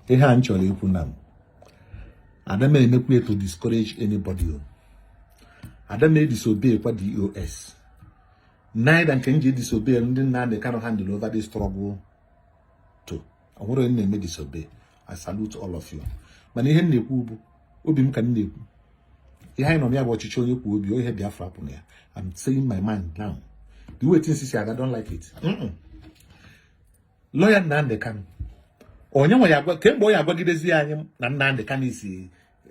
ihe a m chọrọ ikwu na m ada m emekwa ya to discourage anybody o ada m edisobey kwa DOS neither nke m ji edisobey ndị Nnamdi Kanu handle over this struggle to o nwerọ onye na m edisobey I salute all of you mana ihe m na-ekwu bụ obi m ka m na-ekwu ihe anyị nọ na ya bụ ọchịchị onye kwuo obi ya ihe Biafra bụ na ya I'm saying my mind now the way things is I don't like it mm -mm. lawyer Nnamdi Kanu onye nwe ya agwa kee mgbe ọ ya-agwagidezi anyị na Nnamdi Kanu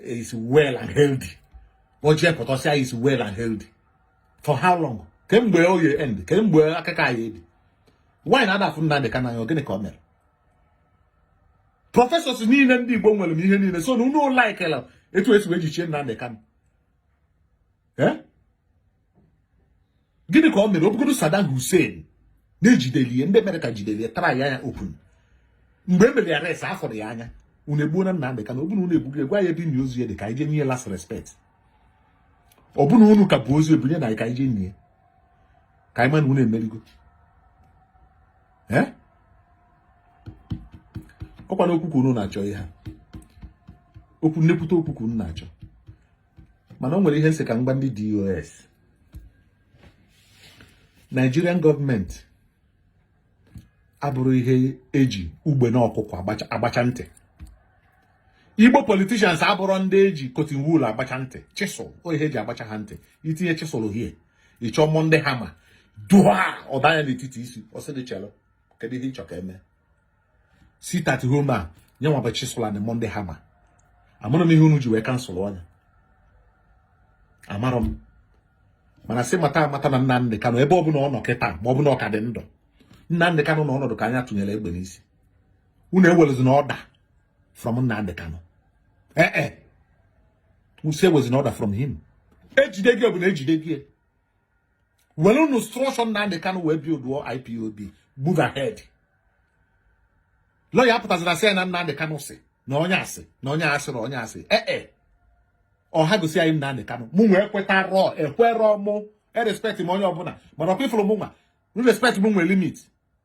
is well and healthy o jee pụta sị ya is well and healthy for how long kee mgbe ọ ya-end kee mgbe akụkọ a ya-ebi why na a da afụ Nnamdi Kanu anya gịnị ka o mere professors niile ndị Igbo nwerenụ ihe niile so na unu likela etu esi wee jichie Nnamdi Kanu eh? gịnị ka o mere ọ bụgodu Saddam Hussein na e jideli ya ndị America jideli ya try ya open mgbe e mere ya arrest afụrụ ya anya unu egbuona Nnamdị Kanu ọ bụ na unu egbugo ya gwa anyị ebe ozu ya dị ka anyị jee nye last respect ọ bụ na unu ka bu ozu ya bunyenụ anyị ka anyị jee nie ka anyị ma na unu emerigo eh? ọ kwanụ okwu ka unu na-achọ ihe ha okwu na-ekwute okwu ka unu na-achọ mana o nwere ihe m sị ka m gwa ndị DOS Nigerian government abụrọ ihe eji ugbene ọkụkọ agbacha ntị Igbo politicians abụrọ ndị eji cotton wool agbacha ntị chisel ọ ihe eji agbacha ha ntị i tinye chisel hie ị chọọ Monday hammer dua ọ danye n'etiti isi ọ sị gị chelụ kedu ihe ị chọ ka eme sit at home a nya nwa bụ chisel na Monday hammer amarọ m ihe unu ji wee cancel ọnya amarọ m mana sị mata amata na Nnamdị Kanụ ebe ọbụla ọ nọ kịta ma ọ bụ na ọ ka dị ndụ Nnamdị Kanụ nọ n'ọnọdụ ka onye a tụnyere egbe n'isi unu ewelezina order from Nnamdị Kanụ ee eh, eh. m sị ewezina order from him ejide gị bụ na ejide gị werenụ structure Nnamdi Kanu wee build IPOB move ahead lawyer pụtaziri asị ya na Nnamdi Kanu sị na onye asị na onye asị na onye asị ee eh, eh. ọ ha gosi anyị Nnamdi Kanu mụnwa ekwetarọ ekwerọ mụ erespect m onye ọbụla mana ọkwa ifụrụ mụ nwa respect mụ nwee limit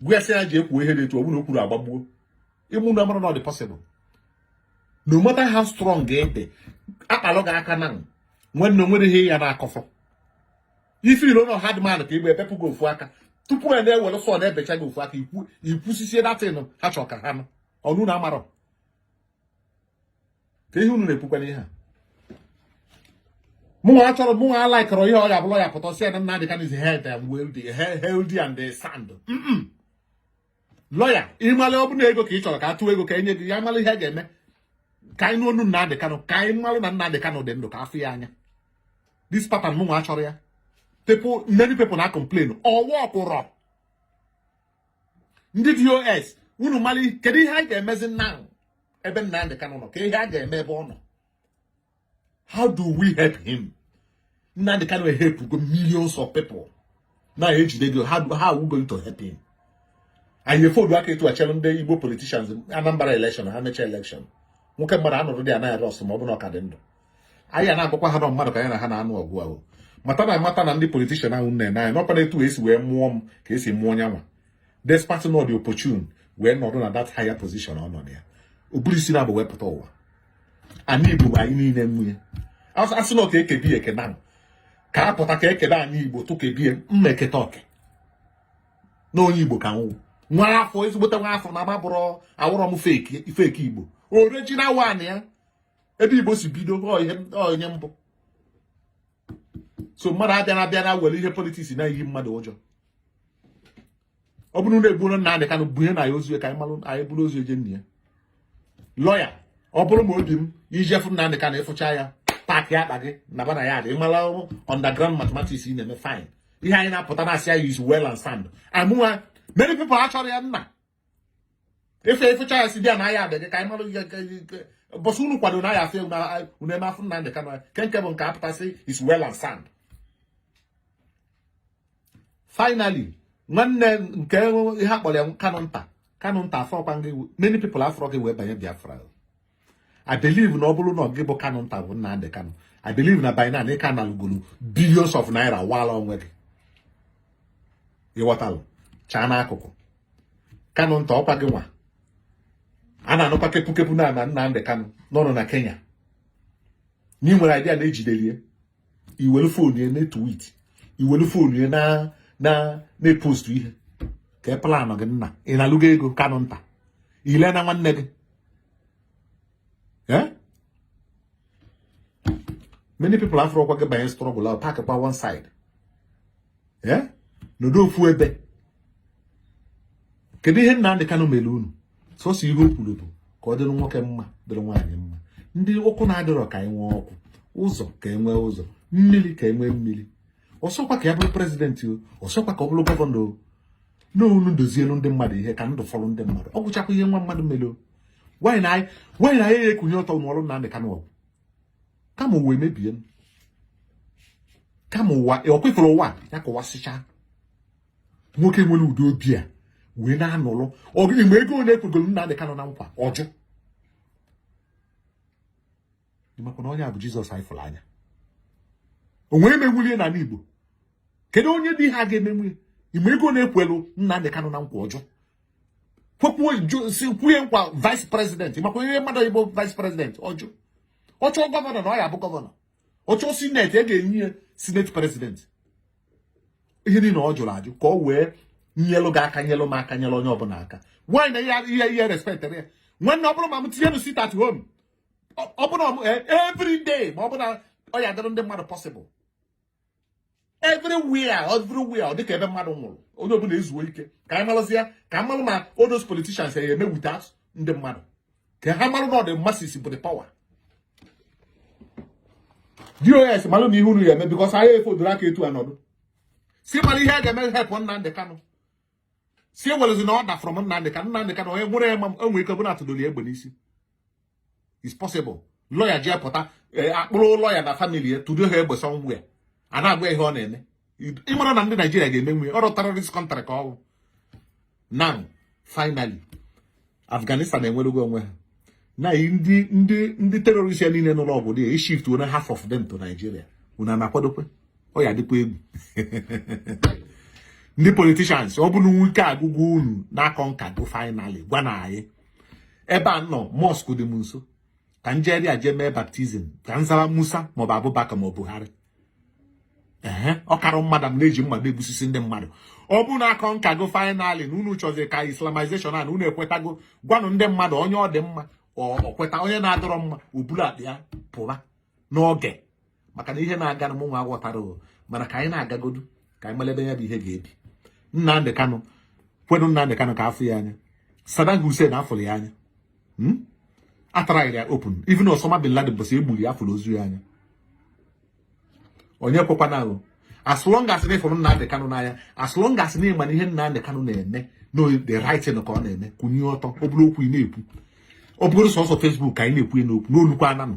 gwa ya sị ya jee kwuo ihe dị etu ọ bụrụ o kwurọ agbagbuo unu amarọ na ọ dị possible no matter how strong ị dị akpalụ gị aka na nwanne o nwere ihe ị ya na-akọfọ if i ro na hard man ka ị bụ ebepụ gị ofu aka tupu a na-ewere saw na-ebecha gị ofu aka i kwusisie that thing ha chọrọ ka ha nụ ọ unu na-amarọ kee ihe unu na-ekwukwara ihe a mụnwa achọrọ mụnwa alaikọrọ ihe ọ ga-abụ lọya pụta sị ya na Nnamdi Kanu is head and wealthy healthy and sound lọya ịmala ọ bụ na ego ka ị chọrọ ka a tụọ ego ka enye gị ya mara ihe a ga-eme ka anyị nụ onu Nnamdi Kanu ka anyị mara na Nnamdi Kanu dị ndụ ka afụ ya anya this pattern mụnwa achọrọ ya people many people na complain ọ wọkụrọ ndị DOS unu mara kedu ihe a ga-emezi now ebe Nnamdi Kanu nọ kee ihe a ga-eme ebe ọ nọ how do we help him Nnamdi Kanu helpụgo millions of people na ejidego how how we going to help him anyị efoldu aka etu a chelu ndị Igbo politicians Anambra election ha mechaa election nwoke mmadụ anọrọ dị anaghị rọs ma ọ bụ na ọ ka dị ndụ anyị a na-agwakwa ha na ọ mmadụ ka anyị na ha na-anụ ọgụ ahụ mata na mata na ndị politishan ahụ nne na anyị na ọkwa etu esi wee mụọ m ka esi mụọ nyanwa despite na ọ dị opportune wee nọdụ na that higher position ọ nọ na ya o burọ isi naabọ wee pụta ụwa anị Igbo bụ anyị niile nwe nya asị na ọ ka ekebie eke now ka a pụta ka ekele anị Igbo tụkebie m ma eketa oke na onye Igbo ka m wụ nwa afọ ezigbote nwa afọ na m abụrọ awụrọ m fake Igbo original one ya ebe Igbo si bido ihe mbụ so mmadụ abịana abịana were ihe politiks na-eyi mmadụ ụjọ ọ bụrụ na egbugo Nnamdi Kanu bunye anyị ozu ka anyị malụ anyị buru ozu je nie ya lọya ọ bụrụ ma ọ bụ ije fụ Nnamdi Kanu ịfụcha ya paakị akpa gị naba na yaadị ịmala underground mathematics ị na-eme fine ihe anyị na-apụta na-asị ya is well and sound amụwa many people achọrọ ya nna ịfụ ịfụcha ya sị bịa na yaadị gị ka anyị mara mbọsị unu kwado na ya afụ unu eme afụ Nnamdi Kanu nke nke bụ ka apụta sị is well and sound finally nwanne kee ihe akpọrọ ya Kanu nta Kanu nta afụrọkwa gị many people afụrọ gị wee banye Biafra I believe na ọ bụrụ na gị bụ Kanu nta bụ Nnamdi Kanu I believe na by now na ị ka analụgolu billions of naira wala onwe gị ịghọtalụ chaa n'akụkụ Kanu nta ọkwa gị nwa a na-anụkwa kepukepu na ama Nnamdi Kanu nọ na Kenya na ị nwere idea na ejidelie i were fon ya na-etwit i were fon ya na na na-epostu ihe kee planụ gị nna ị nalụgo ego Kanu nta i leena nwanne gị eh? many people afụrọkwa gị banye strọgụl ahụ pak kwa one side ee nọdụ ofu ebe kedu ihe Nnamdị Kanụ mere unu sọsọ ihe o kwuru bụ ka ọ dịrị nwoke mma dịrị nwaanyị mma ndị ọkụ na-adịrọ ka e nwee ọkụ ụzọ ka e nwee ụzọ mmiri ka e nwee mmiri ọsọkwa ka ya bụrụ president o ọsọkwa ka ọ bụrụ governor o na unu dozielu ndị mmadụ ihe ka ndụ fọrọ ndị mmadụ ọ gwụchakwa ihe nwa mmadụ mere o why na anyị why na anyị ekunie ọtọ nụọrọ Nnamdị Kanụ ọgụ kama ụwa emebie m kama ụwa ọkwefere ụwa ya kọwasịcha nwoke nwere ụdị obi a wee na-anụrụ ọgịnị ị ma ego ole e kwegoro Nnamdị Kanụ na nkwa ọ jụ ị makwa na onye a bụ Jizọs anyị fụrụ anya o nwee emewulie n'ala Igbo kedu onye ụdị ihe a ga-emenwu ị ma ego one e kwelu Nnamdị Kanụ na nkwa ọ jụ kwepụ si kwee ya nkwa vice president ị makwa ihe mmadụ ịbụ vice president ọ jụ ọ chọọ governor na ọ ya-abụ governor ọ chọọ senate e ga-enye ya senate president ihe niile ọ jụrụ ajụ ka ọ wee nyelụ gị aka nyelụ m aka nyelụ onye ọbụla aka why na ihe ihe respect ya nwanne ọ bụrụ ma m tinyenụ sit at home ọ bụrụ e, every day ma ọ bụrụ na ọ ya-adịrị ndị mmadụ possible everywhere everywhere ọ dịka ebe mmadụ nwụrụ onye ọbụla ezuo ike ka anyị malụzia ka a malụ ma all those politicians ya-eme without ndị mmadụ ka ha malụ na ọ the masses bụ the power DOS malụnụ ihe unu ya-eme because anyị efodoro aka etu a nọdụ si mara ihe a ga-eme help Nnamdị Kanụ si ewelezi na order from Nnamdị Kanụ Nnamdị Kanụ onye nwere ya ma enwe ike bụrụ atụdoli egbe n'isi is possible lawyer ji apụta e, akpụrụ lawyer na family ya tụdo ha egbe somewhere a na-agwa ya ihe ọ na-eme ị marọ na ndị Nigeria ga-emenwu ya ọ rọ terrorist country ka ọ wụ now finally Afghanistan enwerugo onwe ha na ndị ndị ndị terrorist a niile nụrụ ọgụ there e shift one half of them to Nigeria unu ana-akwadokwa ọ ya-adịkwa egwu ndị politicians ọ bụrụ nwoke agụgụ unu a-concurgo finally gwanụ anyị ebe ụnọ mosque dị m nso ka m jeri a jee mee baptism ka m zara Musa maọbụ Abubakar ma ọ Buhari ee ọkara mmadụ m na-eji mmadụ egbusisi ndị mmadụ ọ bụrụ na a-concurgo finally na unu chọzi ka islamization a na unu ekwetago gwanụ ndị mmadụ onye ọ dị mma ọ kweta onye ọ na-adịrọ mma o bulu akpa ya pụba n'oge maka na ihe na-aga na mụ nwa aghọtarọ mana ka anyị na-agagodu ka anyị malụ ebe ya bụ ihe ga-ebi Nnamdị Kanụ kwedu Nnamdị Kanụ ka a fụ ya anya Saddam Hussein a fụrụ ya anya hmm? a tryara ya open even Osama bin Laden bụ a sị e gburu ya a fụrụ ozu ya anya onye ekwekwana ahụ as long as na ị fụrụ Nnamdị Kanụ n'anya as long as na ị ma na ihe Nnamdị Kanụ na-eme na ọ the right thing ka ọ na-eme kunie ọtọ ọ bụrụ okwu ị na-ekwu ọ bụrụ sọsọ Facebook ka anyị na-ekwu n'okwu n'olukwa a na-anụ